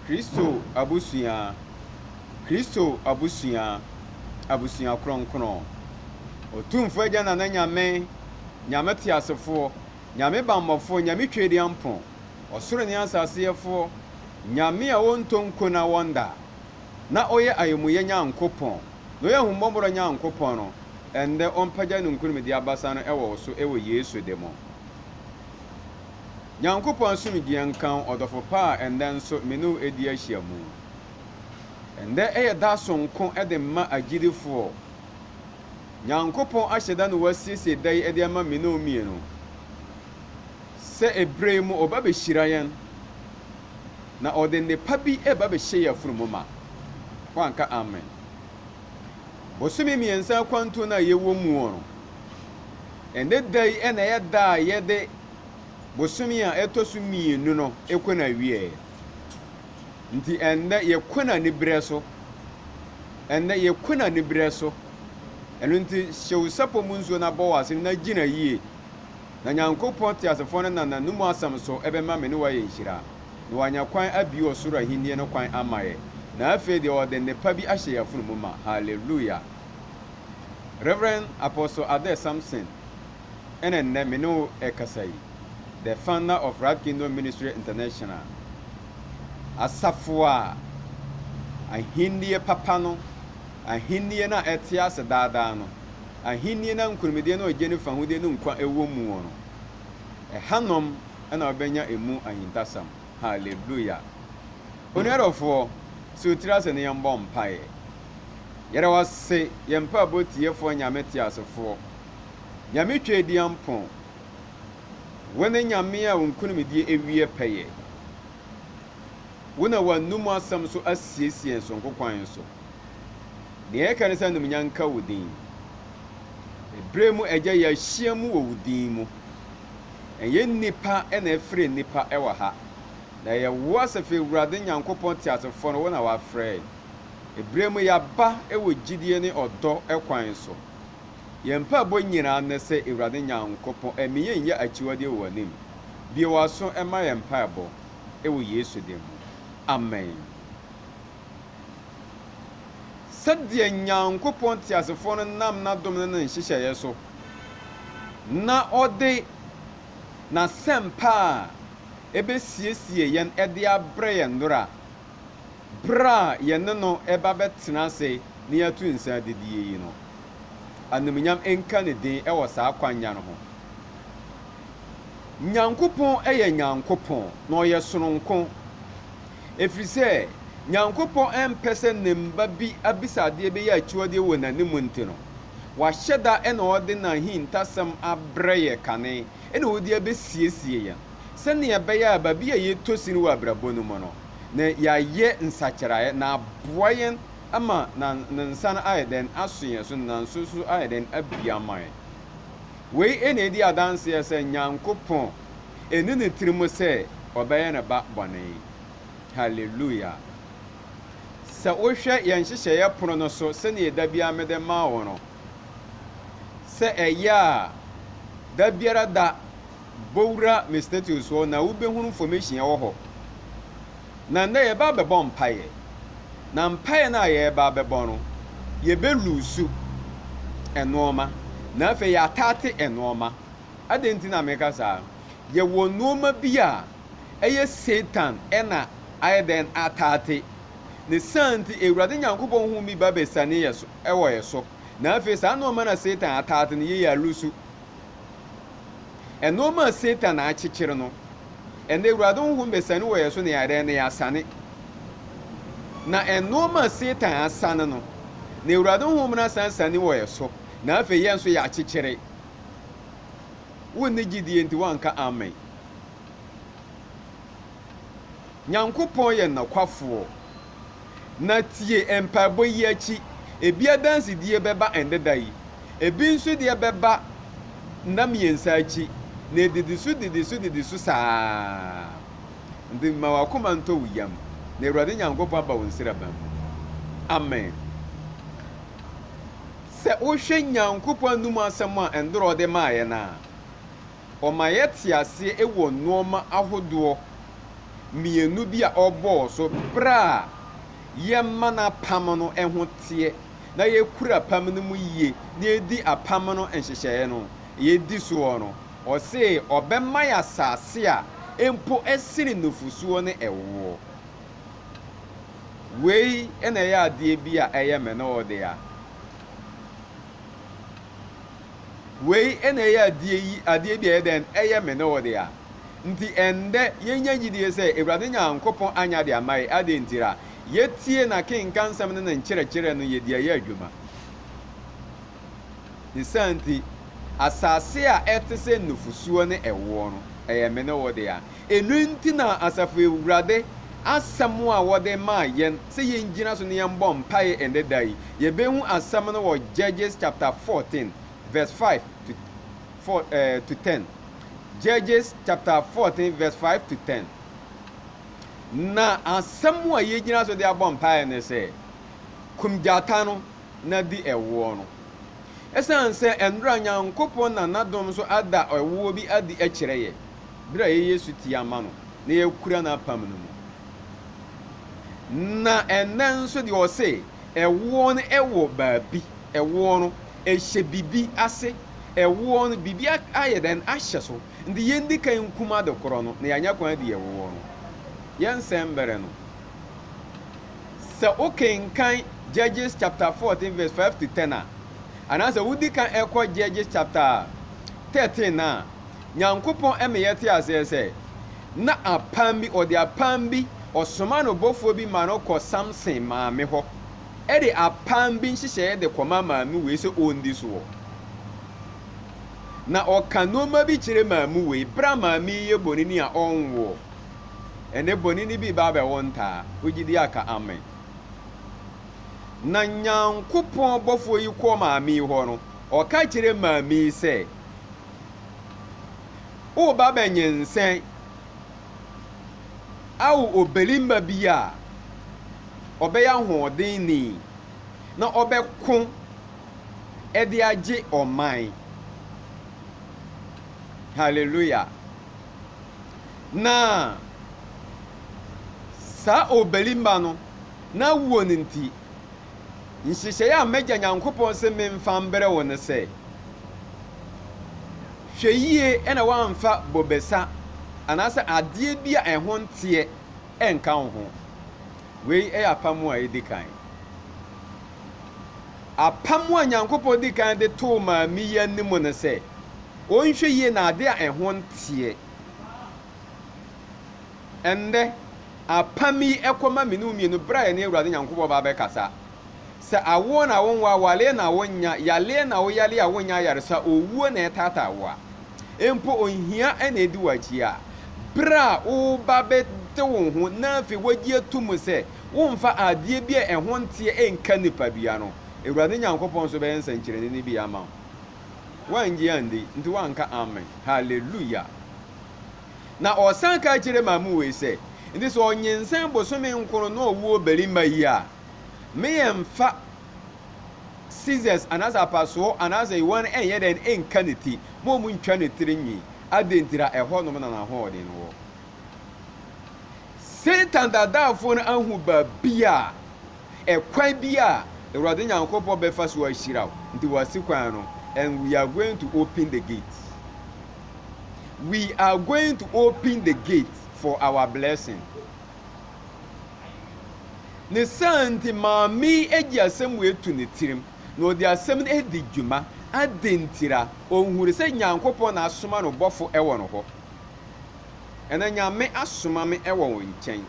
Kristo abusua, Kristo abusua, abusua kronkron. Otumfo Agya Nana Nyame, Nyame teasefoɔ, Nyame bammɔfoɔ, Nyame Twedeampɔn, ɔsoro ne asase yɛfoɔ, Nyame a ɔntɔ nko na ɔnda, na ɔyɛ ayɛmuyɛ Nyankopɔn, na ɔyɛ ahummɔborɔ Nyankopɔn no, ɛndɛ ɔmpagya ne nkonimdie abasa no wɔ wo so wɔ Yesu de mo. Nyankopɔn asomdwie nka wo ɔdɔfo pa a ɛnnɛ nso me ne wo ɛdi ahyiamu. Ɛnnɛ ɛyɛ da sononko de ma agyidifoɔ. Nyankopɔn ahyɛ da na wasiesie da yi de ama me ne wo mmienu. Sɛ ɛberɛ yi mu ɔba bɛhyira yɛn na ɔde nnepa bi ɛba bɛhyɛ yɛn afunumu ma. Woanka amen? Bosome mmiɛnsa akwantuo no a yɛwɔ muo no, ɛnnɛ da yi na ɛyɛ da a yɛde. bosome a ɛtɔ so mmienu no kɔ n'awieɛ. Nti ɛnnɛ yɛkɔ no aniberɛ so. Ɛnnɛ yɛkɔ no aniberɛ so. Ɛno nti hyɛ wo sapɔ mu nsuo na bɔ w'asene na gyina yie. Na Nyankopɔn teasefoɔ no nam n'anom asɛm so bɛma me ne wo ayɛ nhyira, na wanya kwan abue ɔsoro ahennie no kwan ama yɛ, na afei deɛ ɔde nnepa bi ahyɛ yɛn afono mu ma. Hallelujah! Rev. Apostle Adair Sampson ɛna nnɛ me ne wo rekasa yi, the founder of Right Kingdom Ministry International, asafo a ahennie papa no, ahennie no a ɛte ase daadaa no, ahennie no a nkonimdie ne ɔgye ne fahodie ne nkwa wɔ mu no, ɛhanom na wobɛnya ɛmu ahintasɛm. Hallelujah. Onua dɔfoɔ, sɛ otiri ase ne yɛn bɔ mpaeɛ. Yɛda wase, yɛn mpaebɔ tiefoɔ Nyame teasefoɔ. Nyame Tweaduampɔn, wo ne Nyame a wo nkonimdie awieɛ pɛyɛ. Wo na w'anom asɛm so asiesie yɛn soronko kwan so. Nea yɛka ne sɛ animuonyam nka wo din. Ɛberɛ mu Agya yɛahyia mu wɔ wo din mu. Ɛnyɛ nnipa na afrɛ nnipa wɔ ha, na ɛyɛ wo Asafo Awurade Nyankopɔn teasefoɔ no wo na wafrɛ yɛn. Ɛberɛ mu yɛaba wɔ gyidie ne ɔdɔ kwan so. Yɛn mpaebɔ nyinaa ne sɛ Awurade Nyankopɔn mma yɛn nyɛ akyiwadeɛ wɔ w'anim. Bue w'aso ma yɛn mpaebɔ wɔ Yesu din mu. Amen. Sɛdeɛ Nyankopɔn teasefoɔ no nam n'adom ne ne nhyehyɛeɛ so na ɔde N'asɛmpa a ɛbɛsiesie yɛn de abrɛ yɛn nnora Bere a yɛne no reba bɛtena ase na yɛatu nsa adidie yi no, animuonyam nka ne din wɔ saa kwannya no ho. Nyankopɔn yɛ Nyankopɔn, na ɔyɛ sononko, ɛfiri sɛ Nyankopɔn mpɛ sɛ Ne mma bi abisa adeɛ bɛyɛ akyiwadeɛ wɔ N'anim nti no, Wahyɛ da na ɔde N'ahintasɛm abrɛ yɛ kane na ɔde abɛsiesie yɛn. sɛnea ɛbɛyɛ a baabi a yɛtɔ sin wɔ abrabɔ no mu no, na yɛayɛ nsakyeraɛ na aboa yɛn ama na Ne nsa no ayɛ dɛn? Aso yɛn so, na nso so ayɛ dɛn? Abue ama yɛn. Wei na ɛdi adanseɛ sɛ Nyankopɔn, ɛnni ne tirim sɛ Ɔbɛyɛ ne ba bɔne. Hallelujah! Sɛ wohwɛ yɛn nhyehyɛeɛ pono no so, sɛnea da biara mede ma wo no, sɛ ɛyɛ a da biara da, Bowura me status hɔ na wobɛhunu formation ɛwɔ hɔ. Na nnɛ yɛba abɛbɔ mpaeɛ. Na mpaeɛ no a yɛreba abɛbɔ no, yɛbɛ luusu nnoɔma. Na afei yɛataate nnoɔma. Adɛn nti na meka saa? Yɛwɔ nnoɔma bi a ɛyɛ Satan na ayɛ dɛn ataate. Ne saa nti Awurade Nyankopɔn huu bi ba bɛsiane yɛ so, wɔ yɛ so. Na afei saa nnoɔma no a Satan ataate no yei yɛaluusu. Nnoɔma a Satan akyekyere no, ɛnnɛ Awurade Honhom bɛsane wɔ yɛn so na yɛayɛ na yɛasane. Na nnoɔma a Satan asane no, na Awurade Honhom no asan sane wɔ yɛn so, na afei yɛn nso yɛakyekyere. Wonni gyidie nti woanka amen. Nyankopɔn yɛ nɔkwafoɔ. Na tie, mpaebɔ yi akyi, ebi adansedie bɛba ɛnnɛ da yi, ebi nso deɛ bɛba nna mmiɛnsa akyi, na ɛdidi so didi so didi so saa ara. Nti mma w'akoma ntɔ wo yam, na Awurade Nyankopɔn aba wo nsraban mu. Amen. Sɛ wohwɛ Nyankopɔn anom asɛm a Ndorɔ de maeɛ no a, ɔma yɛte aseɛ wɔ nnoɔma ahodoɔ mmienu bi a ɔbɔɔ so berɛ a yɛma n'apam no ho teɛ na yɛkura apam no mu yie na yɛdi apam no nhyehyɛeɛ no yɛdi soɔ no, ɔse ɔbɛma yɛ asase a mpo ɛsene nufosuo ne ɛwoɔ. Wei na ɛyɛ adeɛ bi a ɛyɛ me na ɔde a. Wei na ɛyɛ adeɛ yi, adeɛ bi a ɛyɛ dɛn? Ɛyɛ me ne wo dea. Nti ɛnnɛ, yɛnya gyidie sɛ Awurade Nyankopɔn anya ade ama yɛ. Adɛn ntira? Yɛtie N'akenkansɛm ne Ne nkyerɛkyerɛ no, yɛdi ayɛ adwuma. Ne saa nti, asase a ɛte sɛ nufosuo ne ɛwoɔ no, ɛyɛ me ne wo dea. Ɛno nti na Asafo Awurade asɛm a wɔde maa yɛn sɛ yɛngyina so na yɛmmɔ mpaeɛ ɛnnɛ da yi, yɛbɛhu asɛm no wɔ Judges chapter 14 verse 5 to 4, eh, to 10. Judges chapter 14 verse 5 to 10. Na asɛm a yɛgyina so de abɔ mpaeɛ ne sɛ, kum gyata no na di ɛwoɔ no. Ɛsiane sɛ ɛnnora Nyankopɔn na n'adom so ada ɛwoɔ bi adi kyerɛ yɛ. bere a yɛyɛ sotie ma no na yɛkura n'apam no mu. Na ɛnnɛ nso deɛ ɔse ɛwoɔ no ɛwɔ baabi, ɛwoɔ no ɛhyɛ biribi ase, ɛwoɔ no biribi ayɛ dɛn ahyɛ so, nti yɛndi kan nkum ade korɔ no na yɛanya kwan adi ɛwoɔ no. Yɛnsɛe mberɛ no. Sɛ wokenkan Judges chapter 14 verse 5 to 10 a, anaasɛ wodi kan ɛkɔ Judges chapter 13 a, Nyankopɔn ma yɛte aseɛ sɛ, na apam bi, ɔde apam bi, ɔsoma no bɔfoɔ bi ma no kɔ Samson maame hɔ, de apam bi nhyehyɛeɛ de kɔma maame wei sɛ ɔndi soɔ. Na ɔka nnoɔma bi kyerɛ maame wei, berɛ a maame yi yɛ bɔneni a ɔnwoɔ. Ɛnɛ bɔneni bi ba abɛwo ntaa, wogye di aka amen. Na Nyankopɔn bɔfoɔ yi kɔ maame yi hɔ no, ɔka kyerɛ maame yi sɛ, Woreba bɛnyinsɛn. Awo ɔbarima bi a ɔbɛyɛ ahoɔdenni na ɔbɛko de agye ɔman. Hallelujah! Na saa ɔbarima no, n'awoɔ no nti. Nhyehyɛe a m'Agya Nyankopɔn se memfa mbrɛ wo ne sɛ, Hwɛ yie na woamfa bobesa anaasɛ adeɛ bi a ɛho nteɛ ɛnka wo ho. Wei yɛ apam a edi kan. Apam a Nyankopɔn di kan de too maame yi anim ne sɛ, ɔnhwɛ yie na adeɛ a ɛho nteɛ, Ɛnnɛ, apam yi kɔ ma me ne wo mmienu berɛ a yɛne Awurade Nyankopɔn ba bɛkasa. Sɛ awoɔ na wonwo, awareɛ na wonnya, yareɛ na woyare a wonnya ayaresa, owuo na ɛtaataa wo a, mpo ohia na ɛdi w'akyi a, berɛ a woreba bɛte wo ho na afei woagye atom sɛ womfa adeɛ bi a ɛho nteɛ nka nipadua no, Awurade Nyankopɔn nso bɛyɛ nsɛnkyerɛnne no bi ama wo. Woannye andi, nti woanka Amen. Hallelujah! Na ɔsan ka kyerɛ Mamue sɛ, Enti sɛ ɔnyinsɛn bosome nkron na ɔwo ɔbarima yi a, me yɛmfa scissors anaasɛ apasoɔ anaasɛ yowan ɛnyɛ dɛn nka ne ti ma wɔn ntwa ne tiri nwi. Adɛn nti na ɛhɔnom na n'ahoɔden no wɔ? Satan dadaafoɔ no ahu baabi a, ɛkwan bi a Awurade Nyankopɔn bɛfa so ahyira wo, nti wasi kwan no and we are going to open the gate. we are going to open the gate for our blessing ne saa nti maame adi asɛm wɔ etu ne tirim na ɔde asɛm no adi dwuma adi ntira ɔnhuri sɛ nyankopɔn na asoma no bɔfo ɛwɔ no hɔ ɛna nyame asoma me ɛwɔ wo nkyɛn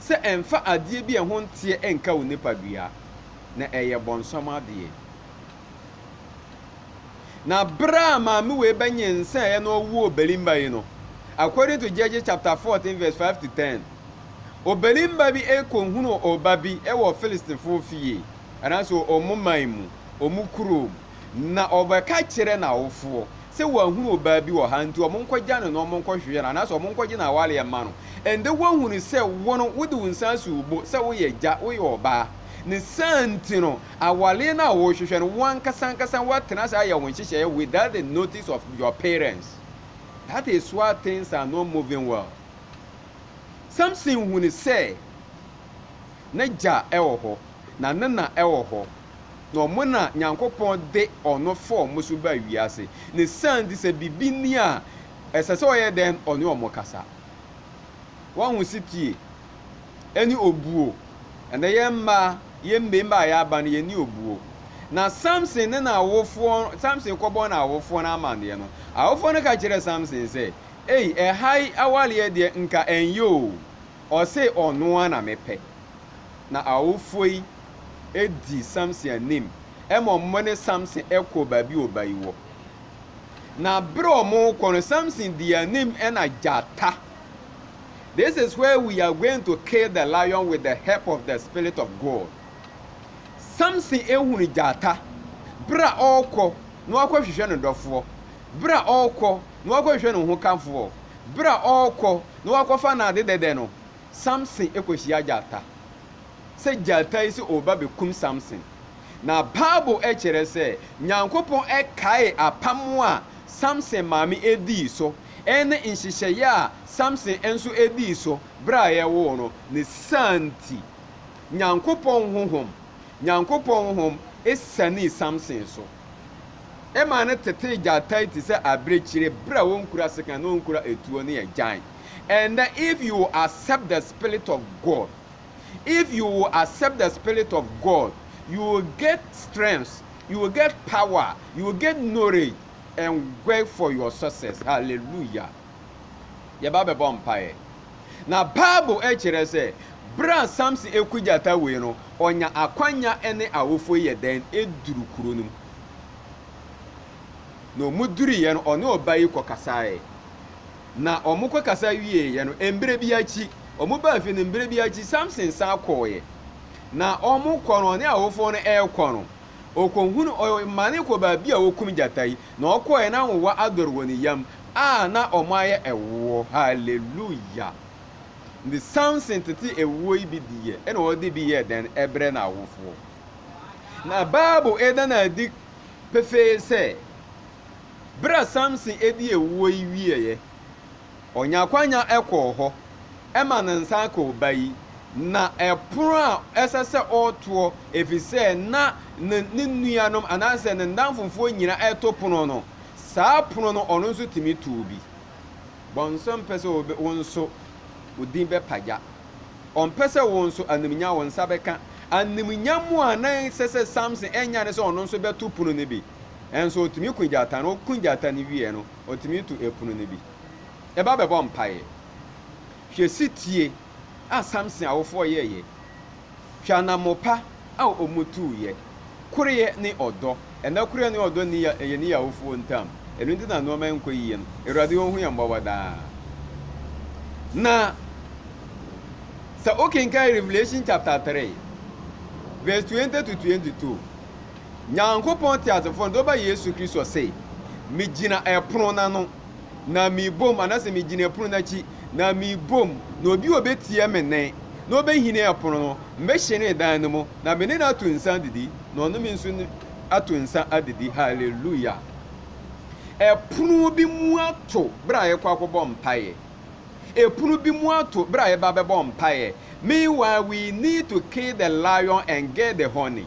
sɛ ɛmfa adeɛ bi a ɛho nteɛ ɛnka wo nipadua na ɛyɛ bɔnsam adeɛ Na bere a maame wei bɛnyinsɛnee na ɔwoo ɔbarimba yi no, according to Judges chapter 14 verse 5 to 10, ɔbarimba bi kɔhunuu ɔba bi wɔ Philistifoɔ fie, anaasɛ wɔn man mu, wɔn kurom, na ɔbɛka kyerɛɛ n'awofoɔ sɛ wɔahunu ɔbaa bi wɔ ha, nti wɔnkɔgya no na wɔnkɔhwehwɛ no, anaasɛ wɔnkɔgye no awareɛ mma no. Ɛnde woahunu sɛ wo no, wode wo nsa asi wo bo sɛ woyɛ agya, woyɛ ɔbaa, ne saa nti no, Aware no a worehwehwɛ no, wo ankasa ankasa woatena ase ayɛ wo nhyehyɛe without the notice of your parents. That is why things are not moving well. Samson hunu sɛ n'agya wɔ hɔ, na ne na wɔ hɔ, na ɔmo na Nyankopɔn de ɔno fa ɔmo so baa wiase. Ne saa nti sɛ biribi ni a, ɛsɛ sɛ ɔyɛ dɛn? Ɔne ɔmo kasa. Woahu setie? ɛne obuo. Ɛnɛ yɛn mmaa, yɛn mmarima a yɛaba no, yɛnni obuo. Na Samson ne n'awofoɔ, Samson kɔbɔɔ n'awofoɔ no amanneɛ no, awofoɔ no ka kyerɛɛ Samson sɛ, Ei, ɛha yi awareɛ deɛ nka ɛnyɛ o, ɔse ɔno ara na mepɛ. Na awofoɔ yi di Samson anim ma wɔne Samson kɔɔ baabi a ɔba yi wɔ. Na berɛ a wɔrekɔ no, Samson dii anim na gyata This is where we are going to kill the lion with the help of the spirit of God. Samson ehunu gyata bere a ɔrekɔ na wakɔhwehwɛ ne dɔfoɔ, bere a ɔrekɔ na wakɔhwehwɛ ne hokafoɔ, bere a ɔrekɔ na wakɔfa n'ade dɛdɛ no, Samson kɔhyia gyata. Sɛ gyata yi sɛ ɔreba bɛkum Samson. Na Bible kyerɛ sɛ Nyankopɔn kae apam a Samson maame dii so Eyi ne nhyehyɛe a Samson nso dii so bere a yɛwoo no. Ne saa nti, Nyankopɔn honhom, Nyankopɔn honhom sianee Samson so. Ɛmaa no tetee gyatae te sɛ abirekyire bere a onkura sekan na onkura etuo ne agyan. Ɛnnɛ, if you will accept the spirit of God, if you will accept the spirit of God, you will get strength, you will get power, you will get knowledge, and work for your success hallelujah yɛba bɛbɔ mpaeɛ na bible kyerɛ sɛ berɛ a samson ɛku gyata wei no ɔnya akwanya ne awofoɔ yɛ dɛn ɛduru kuro no mu na ɔmu duriiɛ no ɔne ɔba yi kɔkasaeɛ na ɔmo kɔkasa wieeɛ no mberɛ bi akyi ɔmo baa fie no mberɛ bi akyi samson san kɔɔeɛ na ɔmo kɔ no ɔne awofoɔ no ɛrekɔ no Okohun ɔmane kɔ baabi a wokum gyata yi, na ɔkɔe na nwowa adɔre wɔ ne yam a na wɔayɛ ɛwoɔ. Hallelujah! Nti Samson tetee ɛwoɔ yi bi diiɛ ɛna ɔde bi yɛɛ dɛn? Ɛbrɛɛ n'awofoɔ. Na Bible ɛda no adi pefee sɛ, berɛ a Samson ɛdi ɛwoɔ yi wieɛ, Ɔnya akwanya kɔɔ hɔ ma ne nsa ka ɔba yi, na ɛpono a ɛsɛ sɛ ɔtoɔ ɛfiri sɛ na ne ne nuanom anaasɛ ne nnamfofoɔ nyina ɛto pono no, saa pono no ɔno nso tumi too bi. Bɔnsam mpɛ sɛ wo nso wo din bɛpagya. Ɔmpɛ sɛ wo nso animuonyam wo nsa bɛka. Animuonyam a na ɛsɛ sɛ Samson nya ne sɛ ɔno nso bɛto pono no bi. Nso ɔtumi ko gyata no, ɔko gyata no wieɛ no, otumi to ɛpono no bi ba bɛbɔ mpaeɛ. Hwɛ setie a Samson awofoɔ yɛeɛ. Hwɛ anammopa a wɔtuuiɛ. Koreɛ ne ɔdɔ. Ɛnnɛ koreɛ ne ɔdɔ nni yɛne yɛn awofoɔ ntam. Ɛno nti na nnoɔma nkɔ yie no. Awurade ɔhu yɛn mmɔbɔ daa. Na sɛ wokenkan Revelation chapter 3 verse 20 to 22. Nyankopɔn teasefo no de ɔba Yesu Kristo se, Megyina ɛpono no ano na mebom, anase megyina ɛpono no akyi na mebom, na obi a obetie me nne na obehini ɛpono no, mehyene dan no mu na me ne no ato nsa adidi, na ɔne me nso ato nsa adidi. Hallelujah! Ɛpono bi mu ato bere a yɛkɔ akɔbɔ mpaeɛ. Ɛpono bi mu ato bere a yɛba bɛbɔ mpaeɛ. Meanwhile, we need to kill the lion and get the honey.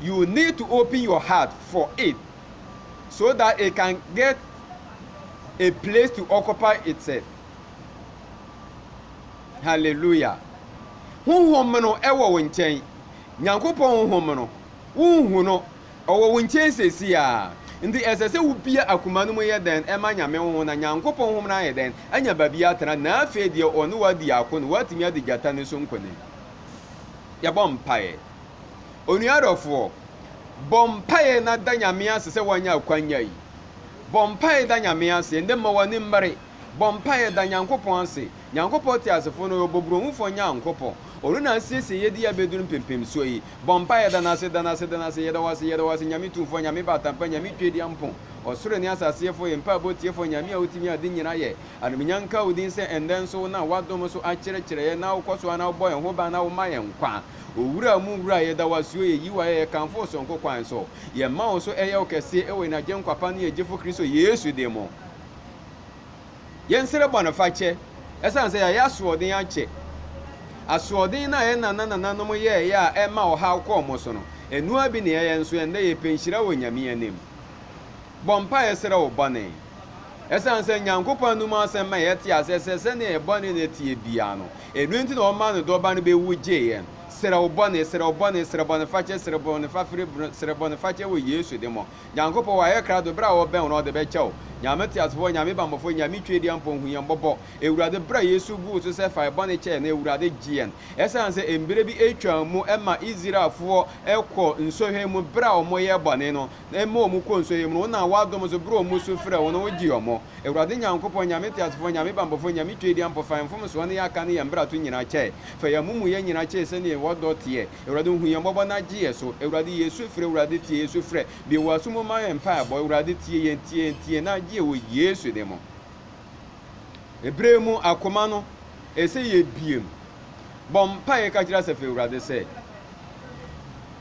you need to open your heart for it so that it can get a place to occupy itself. Hallelujah. Honhom no ɛwɔ wo nkyɛn. Nyankopɔn honhom no, wonhu no. Ɔwɔ wo nkyɛn sɛsi a. Nti ɛsɛ sɛ wobia akoma no mu yɛ dɛn ɛma Nyame honhom na Nyankopɔn honhom no ayɛ dɛn anya baabi atena na afei deɛ ɔne wo adi ako no, woatumi adi gyata no so nkonim. Yɛbɔ mpaeɛ. Onua dɔfoɔ, bɔ mpaeɛ na da Nyame ase sɛ woanya akwanya yi. Bɔ mpaeɛ da Nyame ase, ɛndɛ mma w'ani mmere. Bɔ mpaeɛ da Nyankopɔn ase. Nyankopɔn te asefoɔ no, Ɔyɛ Ɔbɔbrohufoɔ Nyankopɔn. Ɔno na asiesie yɛ de yɛ abɛduru mpempemsoɔ yi. Bɔ mpaeɛ da N'ase, da N'ase, da N'ase, Yɛda wo ase, yɛda wo ase, Nyame Tumfoɔ, Nyame Batampa, Nyame Twedeampo, Ɔsoro ne asase yɛfoɔ, yɛn mpaebɔ tiefoɔ, Nyame a wotumi ade nyina yɛ. Anumunya nka wo din sɛ ɛndɛ nso wonam w'adom so akyerɛkyerɛ yɛn na wokɔ so ara na wobɔ yɛn ho ban na woma yɛn nkwa. Owura mu Wura yɛda wo ase o yɛ yi wo ayɛ yɛ kamfo wo sononko kwan so yɛ mma wo so ɛyɛ wo kɛseɛ ɛwɔ yɛn agyenkwa pa ne yɛn gyefo Kristo Yesu din mo yɛn srɛ bɔnefakyɛ ɛsan sɛ yɛayɛ asoɔden akyɛ asoɔden no a yɛn nana nananom yɛɛyɛ a ɛma ɔhaw kɔɔ mo so no ɛnoa bi ne ɛyɛ nso ɛndɛ yɛ pɛ nhyira wɔ Nyame anim bɔ mpa yɛ srɛ wo bɔne Esiane sɛ Nyankopɔn anom asɛm ma yɛte aseɛ sɛ sɛdeɛ yɛn bɔne na ɛteɛ biara no, ɛno nti na ɔmaa ne Dɔba no bɛwu gyee yɛn. Srɛ wo bɔne, srɛ wo bɔne, srɛ bɔnefakyɛ, srɛ bɔnefafire, srɛ bɔnefakyɛ wɔ Yesu din mu. Nyankopɔn wayɛ krado, berɛ a ɔbɛn wo no ɔde bɛkyɛ wo. Nyame Teasefoɔ, Nyame Bammɔfoɔ, Nyame Twedeɛ Mpɔn hu yɛn mmɔbɔ. Awurade bra Yesu guu so sɛ fa yɛn bɔne kyɛ yɛn no, Awurade gye yɛn. Esiane sɛ mberɛ bi ɛtwaa mu ma Israelfoɔ kɔɔ nsɔhwɛ mu berɛ a wɔyɛɛ bɔne no, na ɛma wɔn kɔ nsuo yi mu no, wo na w'adom so berɛ wɔn su frɛ wo no wo gye wɔn. Awurade Nyankopɔn, Nyame teasefoɔ, Nyame banbɔfoɔ, Nyame tweediampɔ, fa yɛn mfomsoɔ ne yɛn akan ne yɛn mmarato nyinaa kyɛ yɛn, fa yɛn amumuyɛ nyinaa kyɛ yɛn sɛdeɛ w'ɔdɔ teɛ, Awurade hu yɛn mmɔbɔ na gye yɛn so, Awurade yɛ su frɛ, Awurade tie yɛn su frɛ, bue w'aso mu ma yɛn mpaebɔ, Awurade tie yɛn, tie yɛn, tie yɛn na gye yɛn wɔ Yesu din mu. Ɛberɛ mu akoma no ɛsɛ yɛbue mu, bɔ mpaeɛ ka kyerɛ asafo Awurade sɛ,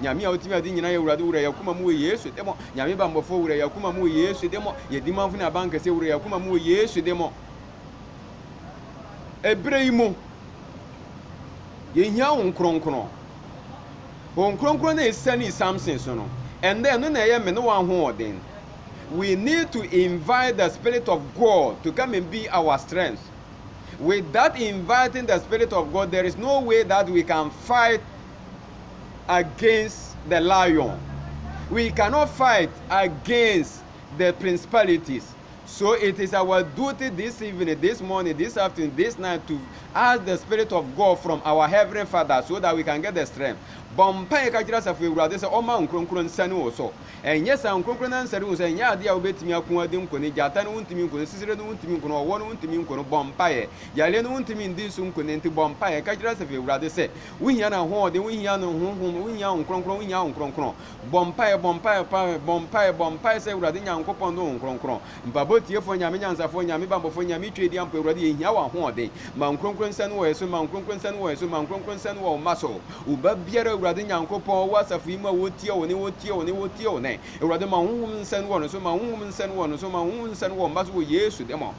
Nyame a otumi ade nyina yɛ Awurade wura yakoma mu wɔ Yesu demo. Nyame ba mbɔfo wura yakoma mu wɔ Yesu demo. Yɛ dimamfo ne aban kɛse wura yakoma mu wɔ Yesu demo. Ebere yi mu, yɛ hia Hon Kronkron. Hon Kronkron na esani Samson so no, ɛndɛ ɛno na ɛyɛ me ne w'ahoɔden. We need to invite the Spirit of God to come and be our strength. Without inviting the Spirit of God, there is no way that we can fight against the lion. We cannot fight against the principalities. So it is our duty this evening, this morning, this afternoon, this night to ask the Spirit of God from our Heavenly Father so that we can get the strength. Bɔmpa yɛ kakyira asafo ewurade sɛ ɔma nkronkron nsa ne wɔ so. Ɛnyɛ saa nkronkron na nsa ne wɔ so ɛnyɛ adeɛ a wobɛtumi ako adi nko ne gyata no wontumi nko no sisire no wontumi nko no ɔwɔ no wontumi nko no bɔmpa yɛ yareɛ no wontumi ndi so nko ne nti bɔmpa yɛ kakyira asafo ewurade sɛ Wohia n'ahoɔden, wohia ne honhom, wohia Honhom Kronkron, wohia Honhom Kronkron. Bɔ mpaeɛ, bɔ mpaeɛ, mpaeɛ, bɔ mpaeɛ, bɔ mpaeɛ sɛ Awurade Nyankopɔn ne Honhom Kronkron. Mpaebɔ tiefoɔ, Nyame Nyansafoɔ, Nyame Bammɔfoɔ, Nyame Tweadiamfoɔ, Awurade yɛhia W'ahoɔden. Ma Wo Nkronkron nsa no wɔ yɛn so, ma Wo Nkronkron nsa no wɔ yɛn so, ma Wo Nkronkron nsa no wɔ Wo mma so. Wo ba biara, Awurade Nyankopɔn, ɔwɔ asafo yi mu a wɔretie Wo Nne, wɔretie Wo Nne, wɔretie Wo Nne. Awurade ma Wo Honhom nsa no wɔ ne so, ma Wo Honhom nsa no wɔ ne so, ma Wo Honhom nsa no wɔ Wo mma so wɔ Yesu din mu.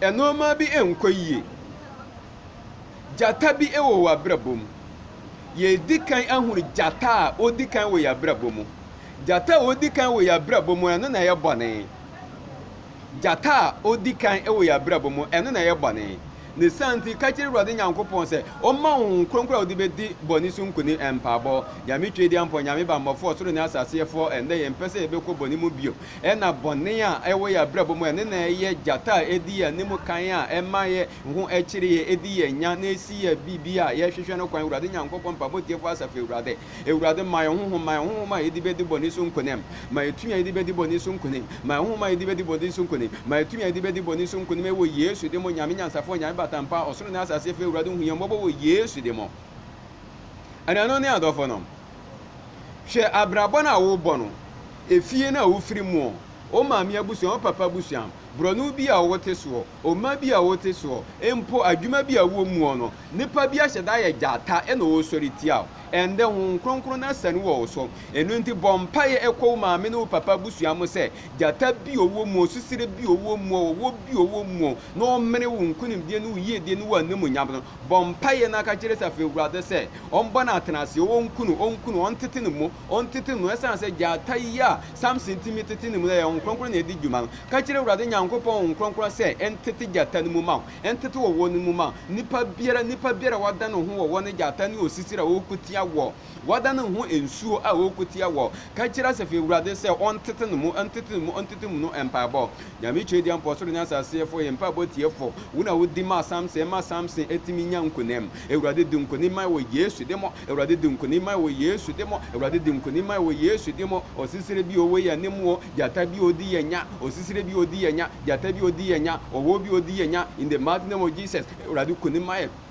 Nnoɔma bi nkɔ yie. Gyata bi wɔ w'abrabɔ mu. Yɛredi kan ahunu gyata a ɔdi kan wɔ yɛn abrabɔ mu. Gyata a ɔdi kan wɔ yɛn abrabɔ mu, ɛno na ɛyɛ bɔne. Gyata a ɔdi kan wɔ yɛn abrabɔ mu, ɛno na ɛyɛ bɔne. Ne saa nti, ka kyerɛ Awurade Nyankopɔn sɛ ɔmma wo Honhom Kronkron a wode bɛdi bɔne so nkonim. Mpaebɔ, Nyame Tweediampɔ, Nyame Bammɔfoɔ, ɔsoro ne asaseɛfoɔ, ɛnnɛ yɛmpɛ sɛ yɛbɛkɔ bɔne mu bio. Ɛna bɔne a ɛwɔ yɛn abrabɔ mu, ɛno na ɛyɛ gyata a edi yɛn anim kan a ɛma yɛ ho kyere yɛn, edi yɛn nya na esi yɛn biribi a yɛhwehwɛ no kwan. Awurade Nyankopɔn, Mpaebɔ Tiefo Asafo Awurade, Awurade, ma yɛn honhom, ma yɛn honhom a yɛde bedi bɔne so nkonim, ma yɛn tumi a yɛde bedi bɔne so nkonim, ma yɛn honhom a yɛde bedi bɔne so nkonim, ma yɛn tumi a yɛde bedi bɔne so nkonim wɔ Yesu din mu, Onyame Nyansafo, Onyame Batampa, Ɔsoro ne Asase Fɛ, Awurade, hu yɛn mmɔbɔ wɔ Yesu din mu. Anuanom ne adɔfonom, Hwɛ abrabɔ no a worebɔ no, efie no a wofiri mu, wo maame abusua, wo papa abusua, borɔno bi a wote soɔ, ɔma bi a wote soɔ, mpo adwuma bi a wowɔ muɔ no, nipa bi ahyɛ da ayɛ gyata na ɔresɔre tia wo. Ɛndɛ Honhom Kronkron no asane wɔ wo so. Eno nti bɔ mpaeɛ ɛkɔ wo maame ne wo papa abusua mu sɛ gyata bi a ɔwɔ muo, susire bi a ɔwɔ muo, ɔwɔ bi a ɔwɔ muo na ɔmene wo nkunimdie ne wo yiedie ne wo animuonyam no. Bɔ mpaeɛ na ka kyerɛ Safi Awurade sɛ ɔmbɔ no atenase, ɔnku no, ɔnku no, ɔntete no mu, ɔntete no mu, ɛsiane sɛ gyata yi a Samson tumi tete ne mu no, ɛyɛ Honhom Kronkron na ɛdi dwuma no. Ka kyerɛ Awurade Nyankopɔn Honhom Kronkron sɛ ɛntete gyata no mu ma wo, ɛntete ɔwɔ no mu ma wo. Nipa biara, nipa biara a wadan ne ho wɔ ɔwɔ ne gyata ne osisira a ɔreko tia wɔ Wɔdan ne ho nsuo a ɔrekotia wɔ ka kyerɛ Asafo Awurade sɛ ɔntete ne mu, ɔntete ne mu, ɔntete ne mu no mpaebɔ. Nyame Twedeɛmpɔ, ɔsoro ne asase yɛfoɔ, yɛn mpaebɔ tiefo, wo na wodi maa Samson ma Samson tumi nya nkonim. Awurade di nkonim ma yɛn wɔ Yesu din mu, Awurade di nkonim ma yɛn wɔ Yesu din mu, Awurade di nkonim ma yɛn wɔ Yesu din mu. Ɔsisire bi ɔwɔ yɛn anim o, gyata bi ɔredi yɛn nya, ɔsisire bi ɔredi yɛn nya, gyata bi ɔredi yɛn nya, ɔwɔ bi ɔredi yɛn nya, in the mighty name of Jesus, Awurade konim ma yɛn.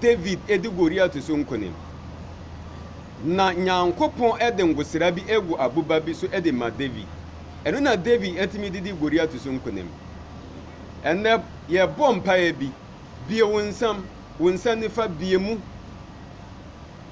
David di Goliat so nkonim. Na Nyankopɔn de ngosra bi gu aboba bi so de ma David. Ɛno na David tumi de di Goliat so nkonim. Ɛnnɛ, yɛbɔ mpaeɛ bi, Bue wo nsam, wo nsa nifa, bue mu.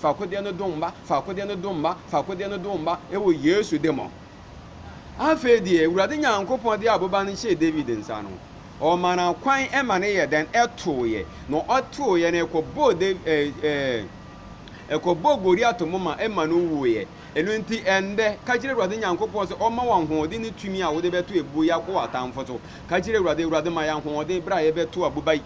fakodeɛ no do mma, fakodeɛ no do mma, fakodeɛ no do mma, ɛwɔ Yesu de mɔ. Afei deɛ, Awurade Nyankopɔn de aboba no hyɛɛ David nsa no, ɔma no kwan ma no yɛ dɛn? Ɛtooeɛ. Na ɔtooeɛ no, ɛkɔbɔɔ Dav ɛɛ ɛɛ ɛkɔbɔɔ Goliat moma ma no wuiɛ. Ɛno nti, ɛnnɛ, ka kyerɛ Awurade Nyankopɔn sɛ ɔmma wo ahoɔden ne tumi a wode bɛto abuo yi akɔ w'atamfo so. Ka kyerɛ Awurade, Awurade ma yɛn ahoɔden berɛ a yɛbɛto aboba yi.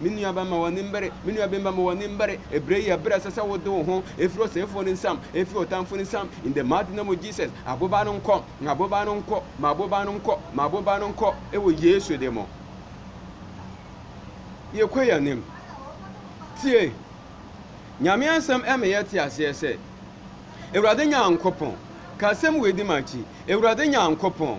Me nua ba, mma w'ani mbere, me nua bemba, mma w'ani mbere, ebre yi yɛ ber a ɛsɛ sɛ wode wo ho firi ɔsɛefoɔ no nsam, firi ɔtamfo no nsam, in the mighty name of Jesus, aboba no nkɔ, aboba no nkɔ, ma aboba no nkɔ, ma aboba no nkɔ, ɛwɔ Yesu de mo. Yɛkɔ yɛn anim. Tie, Nyame asɛm ɛmɛ yɛ te aseɛ sɛ, Awurade Nyankopɔn, ka asɛm wei di m'akyi, Awurade Nyankopɔn,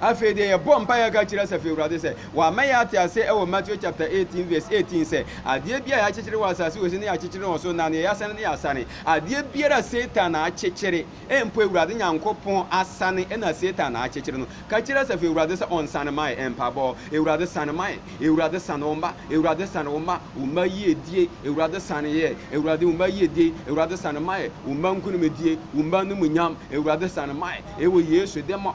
Afei deɛ yɛbɔ mpaeɛ a yɛka kyerɛ Asafo Awurade sɛ wama yɛ ate ase wɔ Matthew chapter 18 verse 18 sɛ adeɛ bi a yɛakyekyere wɔ asase wɔ si ne yɛakyekyere wɔ so na neɛ yɛasane ne yɛasane adeɛ biara a Satan na akyekyere mpo Awurade Nyankopɔn asane ɛna Satan na akyekyere no ka kyerɛ Asafo Awurade sɛ ɔnsane ma yɛ mpaebɔ Awurade sane ma yɛ Awurade sane wo mma Awurade sane wo mma wo mma yiedie Awurade sane yɛ Awurade wo mma yiedie Awurade sane ma yɛ wo mma nkonimdie wo mma anumunyam Awurade sane ma yɛ ɛwɔ Yesu dɛmɔ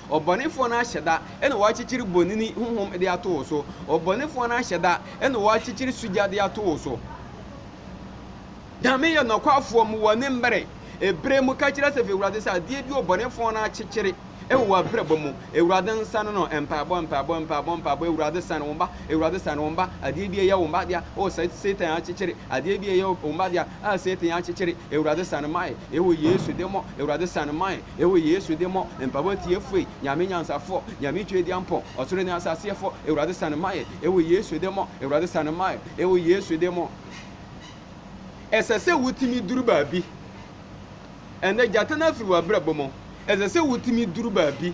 Ɔbɔnefoɔ no ahyɛ da na wɔakyekyere bonini honhom de ato wo so. Ɔbɔnefoɔ no ahyɛ da na wɔakyekyere sugya de ato wo so. Nyame yɛ nɔkwafoɔ mu wɔ ne mmerɛ. Ebere mu ka kyerɛ sɛ fi Awurade sɛ adeɛ bi ɔbɔnefoɔ no akyekyere wɔ w'abrabɔ mu. Awurade nsane no. Mpaebɔ, mpaebɔ, mpaebɔ, mpaebɔ. Awurade sane wo mma. Awurade sane wo mma. Adeɛ bi a ɛyɛ wo mma dea, oh Satan akyekyere. Adeɛ bi a ɛyɛ wo mma dea. a Satan akyekyere, Ewuradze san mae, ewɔ Yesu de mɔ, Ewuradze san mae, ewɔ Yesu de mɔ, mpaabɔ tsiefo e, Nyame nyansafo, Nyame Tweduampɔ, ɔsor nye asaseɛfo, Ewuradze san mae, ewɔ Yesu de mɔ, Ewuradze san mae, ewɔ Yesu de mɔ. Ɛsɛ sɛ wotumi duru baabi. Ɛnnɛ, gyata no afiri w'abrabɔ mu. Ɛsɛ sɛ wotumi duru baabi.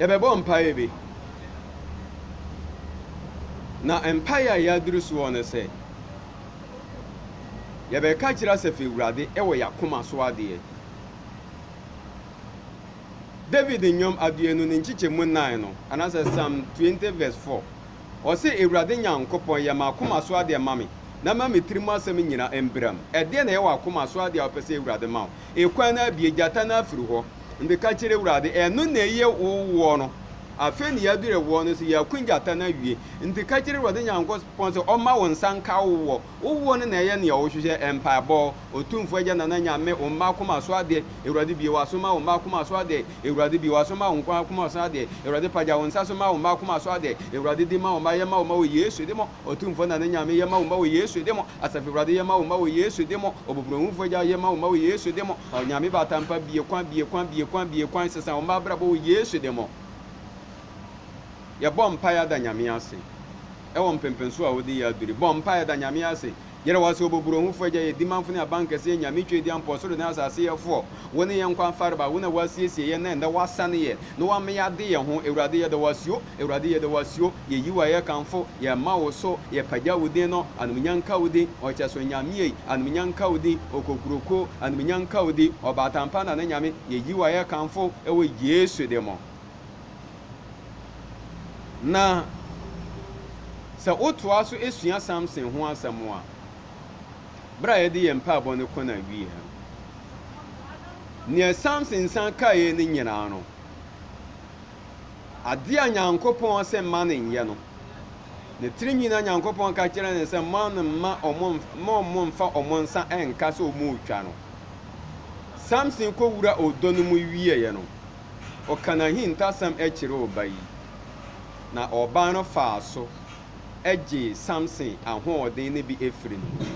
Yɛbɛbɔ mpaeɛ bi. Na mpaeɛ a yɛaduru soɔ ne sɛ, yɛbɛka akyerɛ Asafo Awurade wɔ yɛn akoma so adeɛ. David nnwom aduonu ne nkyekyɛmu nnan no, anaasɛ Psalm 20 verse 4, ɔse, Awurade Nyankopɔn, yɛ m'akoma so adeɛ ma me, na ma me tirim asɛm nyina mbram. Ɛdeɛn na ɛyɛ w'akoma so adeɛ a wopɛ sɛ Awurade ma wo? Ekwan no abue, gyata no afiri hɔ. Nde ka kyerɛ Awurade, Ɛno na eye wo woɔ no. Afei na yɛadure woɔ no so, yɛaku gyata no awie. Nti ka kyerɛ Awurade Nyankopɔn sɛ ɔmma wo nsa nka wo woɔ. Wo woɔ no na ɛyɛ nea wohwehwɛ. Mpaebɔ, Otumfoɔ Agya Nana Nyame, wo mma akoma so adeɛ, Awurade bue w'aso ma wo mma akoma so adeɛ, Awurade bue w'aso ma wo nkoa akoma so adeɛ, Awurade pagya wo nsa so ma wo mma akoma so adeɛ, Awurade di ma wo mma, yɛma wo mma wɔ Yesu di mo. Otumfoɔ na ne Nyame yɛma wo mma wɔ Yesu de mo Asafo Awurade yɛma wo mma wɔ Yesu de mo Ɔbɔbrohunfoɔ Agya yɛma wo mma wɔ Yesu de mo Onyame Batampa bie kwan bie kwan bie kwan bie kwan sesa wo mma abrabɔ wɔ Yesu de mo Yɛbɔ mpaeɛ ada Nyame ase ɛwɔ mpɛmpɛnsoɔ a wode yɛ aduri bɔ mpaeɛ da Nyame ase Yɛda wo ase, Ɔbɔborohufo Agya, yɛn Dimamfo ne Abankɛse, yɛn Nyame Tweaduam, Po Ɔsoro ne Asase Yɛfoɔ. Wo ne yɛn nkwa mfarebae, wo na woasiesie yɛn, na ɛnnɛ woasane yɛn, na woama yɛade yɛn ho. Awurade, yɛda wo ase o, Awurade, yɛda wo ase o, yɛyi wo a yɛkamfo, yɛma wo so, yɛpagya wo din no, Anumunya nka wo din, Ɔkyɛso Nyame ei, Anumunya nka wo din, Okokuroko, Anumunya nka wo din, Ɔbaatan pa na ne Nyame, yɛyi wo a yɛkamfo, wɔ Yesu de mo. Na sɛ wotoa so sua Samson ho asɛm a, bere a yɛde yɛn mpaebɔ no kɔ n'awie no, nea Samson san kaeɛ no nyinaa no, adeɛ a Nyankopɔn sɛ mma no nyɛ no, ne tiri nyinaa Nyankopɔn ka kyerɛ no sɛ mma no mma ɔmo mfa ɔmo nsa nka sɛ ɔmo retwa no. Samson kɔwura ɔdɔ no mu wieɛ no, ɔka n'ahintasɛm kyerɛɛ ɔbaa yi, na ɔbaa no faa so gyee Samson ahoɔden no bi firii ne hɔ.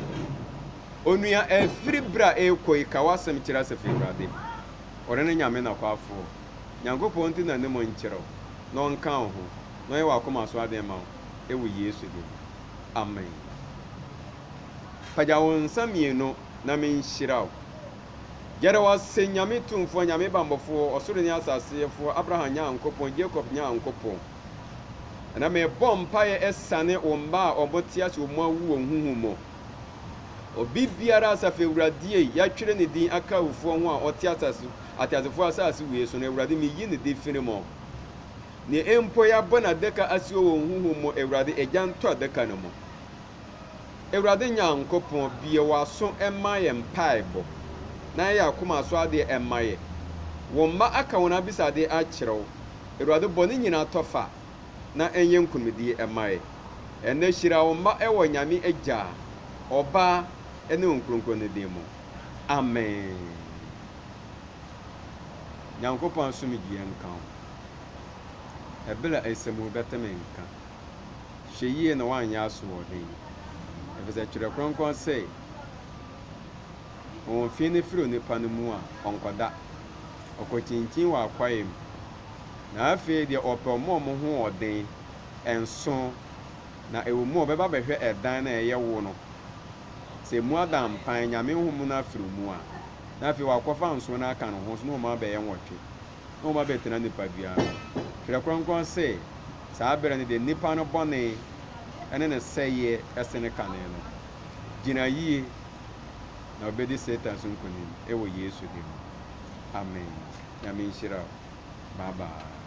Onua, ɛfiri berɛ a ɛrekɔ yi, ka w'asɛm kyerɛ Asafo Awurade. Ɔno ne Nyame nokwafoɔ. Nyankopɔn nte n'anim nkyerɛ wo, na ɔnka wo ho, na ɔnyɛ w'akoma so adeɛ mma wo, wɔ Yesu din mu. Amen. Pagya wo nsa mmienu na menhyira wo. Yɛda wo ase, Nyame Tumfoɔ, Nyame Bammɔfoɔ, Ɔsoro ne Asase Yɛfoɔ, Abraham Nyankopɔn, Jacob Nyankopɔn. Ɛna mebɔ mpaeɛ ɛsane wo mma a ɔmo te ase ɔmo awu wɔ huhu mu. Obi biara Asafo Awurade ei, yɛatwere ne din aka awufoɔ ho a ɔte asase, ateasefoɔ asase wei so no, Awurade meyi ne de firi mu. Neɛ mpo yɛabɔ n'adaka ase wɔ wɔn huhu mu, Awurade, Agya ntɔ adaka no mu. Awurade Nyankopɔn, bue w'aso ma yɛn mpaebɔ, na yɛ akoma so adeɛ mma yɛn. Wo mma aka wɔn abisadeɛ akyerɛ wo, Awurade, bɔ ne nyina tɔ fa, na ɛnyɛ nkunimdie mma yɛn. Ɛnnɛ hyira wo mma wɔ Nyame Agya, Ɔba, ne Honhom Kronkron no din mu. Amen. Nyankopɔn asomdwie nka wo. Ɛberɛ a nsɛm wo bɛte me nka. Hwɛ yie na woanyɛ asoɔden, efisɛ Twerɛ Kronkron se, Wɔn fi no firi onipa no mu a, ɔnkɔda. Ɔkɔkyinkyin wɔ akwaeɛ mu. Na afei deɛ wɔpɛ wɔn a wɔn ho wɔ den, nso na ɛwɔ mu a wɔbɛba abɛhwɛ ɛdan no a ɛyɛ wo no, sɛ emu ada mpan, Nyame Honhom no afiri mu a, na afei wɔakɔfa nson no aka ne ho, nso na wɔn abɛyɛ nwɔtwe. na wɔabɛtena nipadua no. Twerɛ Kronkron se, saa berɛ no deɛ nipa no bɔne ne ne sɛeɛ sene kane no. Gyina yie na wobɛdi Satan so nkonim wɔ Yesu din mu. Amen. Nyame nhyira wo. Bye bye.